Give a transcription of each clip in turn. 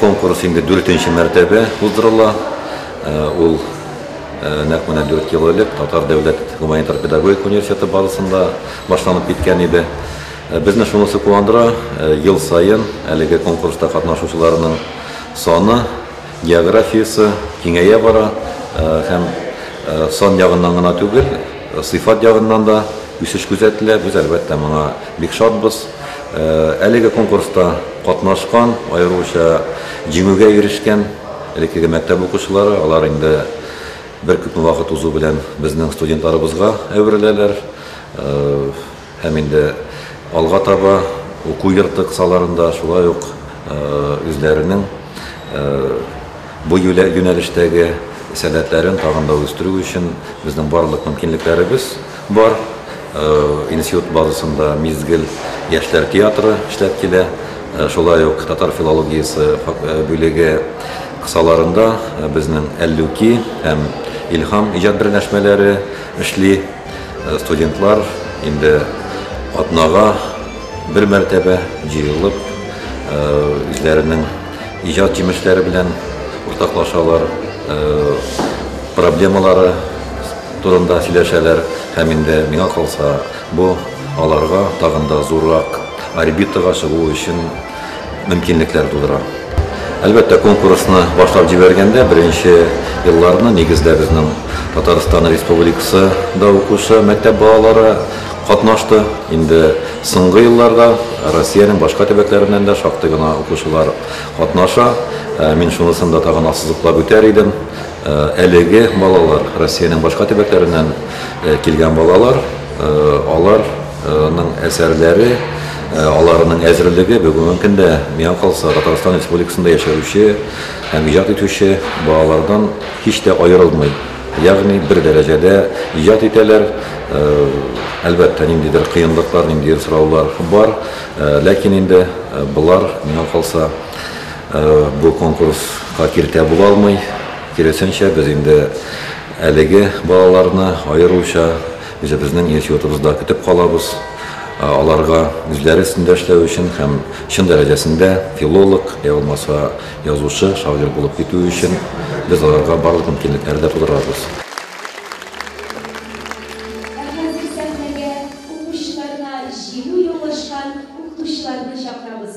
Конкурс инде дүртенче мәртәбә уздырыла. Ул нәкъ менә дүрт ел элек Татар дәүләт гуманитар педагогик университеты базасында башланып киткән иде. Безне шунысы куандыра, ел саен әлеге конкурста катнашучыларның саны Географиясе киңәя бара һәм сан ягыннан гына түгел, сыйфат ягыннан да үсеш күзәтелә. Без, әлбәттә, моңа бик шатбыз. Әлеге конкурста катнашкан, аеруча җиңүгә ирешкән элеккеге мәктәп укучылары, алар инде беркүпме вакыт узу белән безнең студентларыбызга әвереләләр. Һәм инде алга таба уку йорты кысаларында шулай ук үзләренең бу юнәлештәге сәләтләрен тагын да үстерү өчен безнең барлык мөмкинлекләребез бар. Институт базасында Мизгел яшьләр театры эшләп килә. Шулай ук татар филологиясе бүлеге кысаларында безнең Әллүки һәм Илһам иҗат берләшмәләре эшли. Студентлар инде атнага бер мәртәбә җыелып, үзләренең иҗат җимешләре белән уртаклашалар, проблемалары турында сөйләшәләр һәм инде миңа калса, бу аларга тагын да зуррак орбитага чыгу өчен мөмкинлекләр тудыра. Әлбәттә, конкурсны башлап җибәргәндә, беренче елларны нигездә безнең Татарстан Республикасы да укучы мәктәп балалары катнашты. Инде соңгы елларда Россиянең башка төбәкләреннән дә шактый гына укучылар катнаша. Мин шунысын да тагын ассызыклап үтәр идем, әлеге балалар, Россиянең башка төбәкләреннән килгән балалар, алар, Аның әсәрләре, аларның әзерлеге бүгенге көндә, миңа калса, Татарстан Республикасында яшәүче һәм иҗат итүче балалардан һич тә аерылмый. Ягъни бер дәрәҗәдә иҗат итәләр. Әлбәттә, ниндидер кыенлыклар, ниндидер сораулар бар. Ләкин инде болар, миңа калса, бу конкурска киртә була алмый. Киресенчә, без инде әлеге балаларны аеруча Үзебезнең яшь йортыбызда көтеп калабыз. Аларга үзләре өстендә эшләү өчен һәм чын дәрәҗәсендә филолог, йә булмаса язучы, шагыйрь булып китү өчен без аларга барлык мөмкинлекләр дә тудырабыз. Ә хәзер сәхнәгә укучыларына җиңү яулашкан укытучыларны чакырабыз.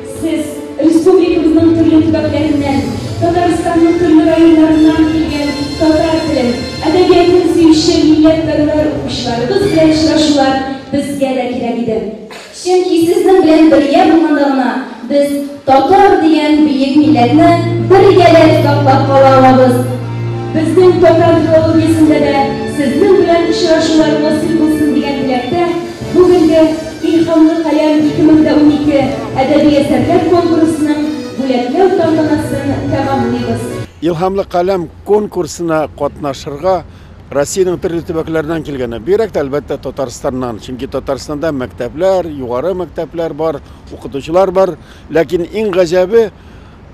Сез, республикабызның төрле төбәкләреннән, Татарстанның төрле районнарыннан килгән татар телен, әдәбиятын сөюче милләтпәрвәр укучыларыбыз белән очрашулар безгә дә кирәк иде. Чөнки сезнең белән бергә булганда гына без татар дигән бөек милләтне бер гәдә саклап кала алабыз. Безнең татар филологиясендә дә сезнең белән очрашулар насыйп булсын дигән теләктә бүгенге Илһамлы каләм 2012 әдәби әсәрләр конкурсының бүләкләү тантанасын тәмамлыйбыз. Илһамлы каләм конкурсына катнашырга Россиянең төрле төбәкләреннән килгәннәр. Бигрәк тә, әлбәттә, Татарстаннан. Чөнки Татарстанда мәктәпләр, югары мәктәпләр бар, укытучылар бар. Ләкин иң гаҗәбе,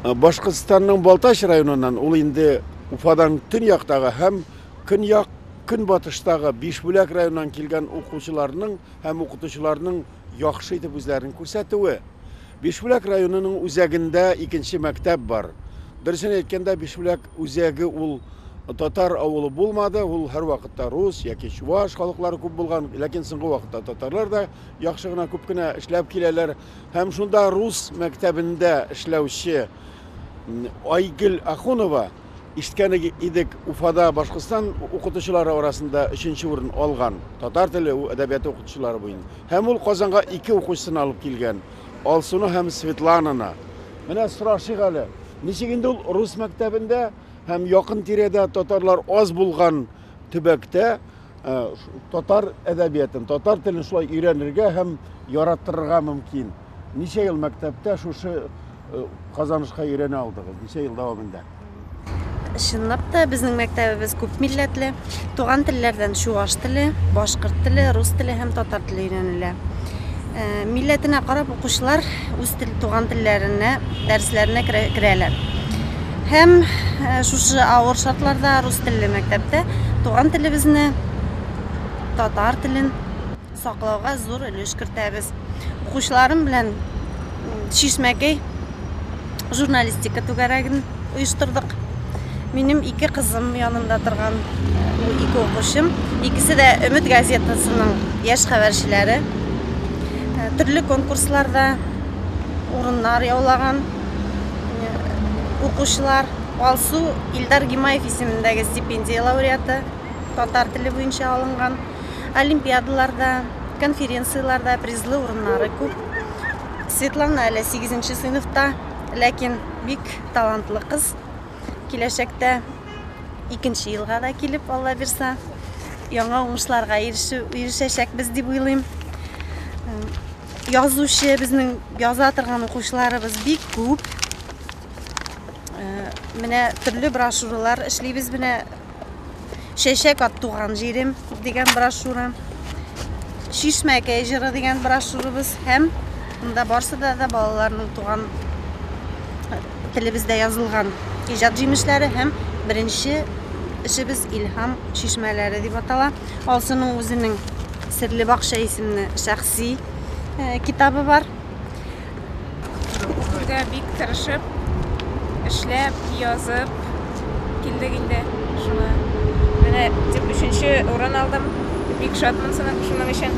Башкортстанның Балтач районыннан, ул инде Уфадан төньяктагы һәм көньяк-көнбатыштагы Бишбүләк районыннан килгән укучыларның һәм укытучыларның яхшы итеп үзләрен күрсәтүе. Бишбүләк районының үзәгендә икенче мәктәп бар. Дөресен әйткәндә, Бишбүләк үзәге ул татар авылы булмады, ул һәрвакытта рус яки чуваш халыклары күп булган, ләкин соңгы вакытта татарлар да яхшы гына, күп кенә эшләп киләләр. Һәм шунда рус мәктәбендә эшләүче Айгөл Ахунова Ишеткән идек, Уфада Башкортстан укытучылары арасында өченче урын алган, татар теле, әдәбияты укытучылары буен. Һәм ул Казанга ике укучысын алып килгән, Алсуны һәм Светлананы. Менә сорашыйк әле, ничек инде ул рус мәктәбендә һәм якын тирәдә татарлар аз булган төбәктә, Ә, татар әдәбиятын, татар телен шулай өйрәнергә һәм яраттырырга мөмкин. Ничә ел мәктәптә шушы э, казанышка өйрәнә алдыгыз? Ничә ел дәвамында? Чынлап та безнең мәктәбебез күп милләтле. Туган телләрдән чуаш теле, башкорт теле, рус теле һәм татар теле өйрәнелә. Ә, милләтенә карап укучылар үз тел, туган телләренә дәресләренә керә, керәләр. Һәм ә, шушы авыр шартларда рус телле мәктәптә туган телебезне, татар телен саклауга зур өлеш кертәбез. Укучыларым белән Чишмәкәй журналистика түгәрәген оештырдык. Минем ике кызым янында торган бу ике укучым. Икесе дә Өмет газетасының яшь хәбәрчеләре. Э, төрле конкурсларда урыннар яулаган э, укучылар. Алсу Илдар Гимаев исемендәге стипендия лауреаты татар теле буенча алынган. Олимпиадаларда, конференцияләрдә призлы урыннары күп. Светлана әле сигезенче сыйныфта, ләкин бик талантлы кыз. Киләчәктә икенче елга да килеп, Алла бирса, яңа уңышларга ирешү, ирешәчәкбез дип уйлыйм. Язучы, безнең яза торган укучыларыбыз бик күп. Менә төрле брошюралар эшлибез, менә Чәчәк ат туган җирем дигән брошюра. Чишмәкәй җыры дигән брошюрабыз һәм монда барсы да да балаларның туган телебездә язылган иҗат җимешләре һәм беренче эшебез Илһам чишмәләре дип атала. Алсының үзенең Серле бакча исемле шәхси э, китабы бар. Бүгенгә бик тырышып, эшләп, язып килдек инде. Шуңа менә дип өченче урын алдым. Бик шатмын сынып шуның өчен.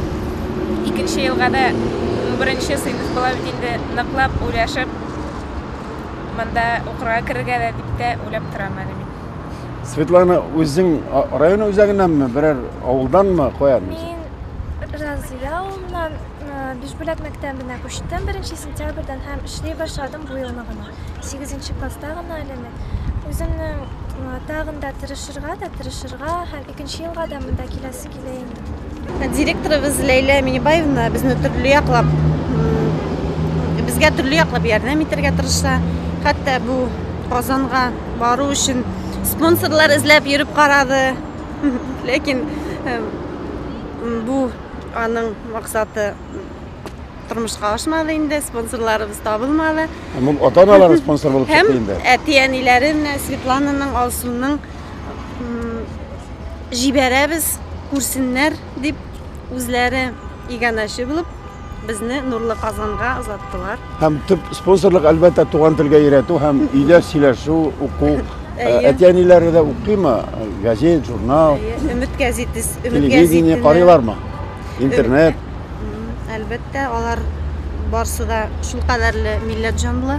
Икенче елга да беренче сыйныф була бит инде. Ныклап уйлашып, монда укырга керергә дә дип тә уйлап торам әле мин. Светлана, үзең а, район үзәгеннәнме, берәр авылданмы, каян? Мин Разыя авылыннан, Бишбүләк мәктәбенә күчтем беренче сентябрьдән һәм эшли башладым бу елны гына. Сигезенче класста гына әле мин. Үземнең тагын да тырышырга да, тырышырга һәм икенче елга да монда киләсе килә инде. Директорыбыз Ләйлә Минибаевна безне төрле яклап безгә төрле яклап ярдәм итәргә тырыша. Хәтта бу Казанга бару өчен спонсорлар эзләп йөреп карады. Ләкин бу Аның максаты тормышка ашмады инде, спонсорларыбыз табылмады. Һәм ул ата-аналары спонсор булып чыкты инде. Һәм әти-әниләре менә Светлананың, Алсуның җибәрәбез, күрсеннәр дип үзләре иганәче булып безне Нурлы Казанга озаттылар. Һәм төп спонсорлык әлбәттә туган телгә өйрәтү һәм өйдә сөйләшү, уку Әти-әниләре дә укыймы? Газет, журнал? Өмет газетис, өмет газетине. Телевидение карыйлармы? Интернет? Әлбәттә, алар барсы да шул кадәрле милләт җанлы.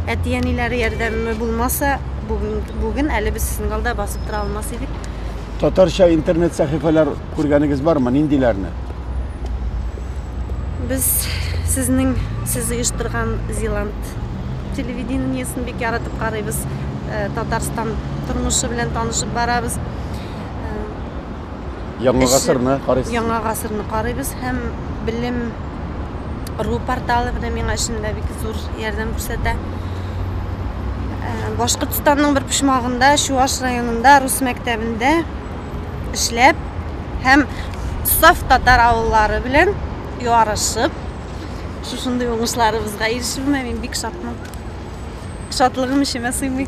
Әти-әниләре ярдәме булмаса, бүген, бүген әле без Сенгалда басып тора алмас идек. Татарча интернет сәхифәләр Күргәнегез бармы, ниндиләрне? Без сезнең сез оештырган Зиланд телевидениесен бик яратып карыйбыз. Э, Татарстан тормышы белән танышып барабыз. Э, Яңа гасырны карыйсыз. Яңа гасырны карыйбыз һәм белем ру порталы менә миңа эшемдә бик зур ярдәм күрсәтә. Э, Башкортстанның бер почмагында, Чуаш районында, рус мәктәбендә эшләп һәм саф татар авыллары белән ярышып шушындый уңышларыбызга ирешүемә мин бик шатмын. Шатлыгым эчемә сыймый.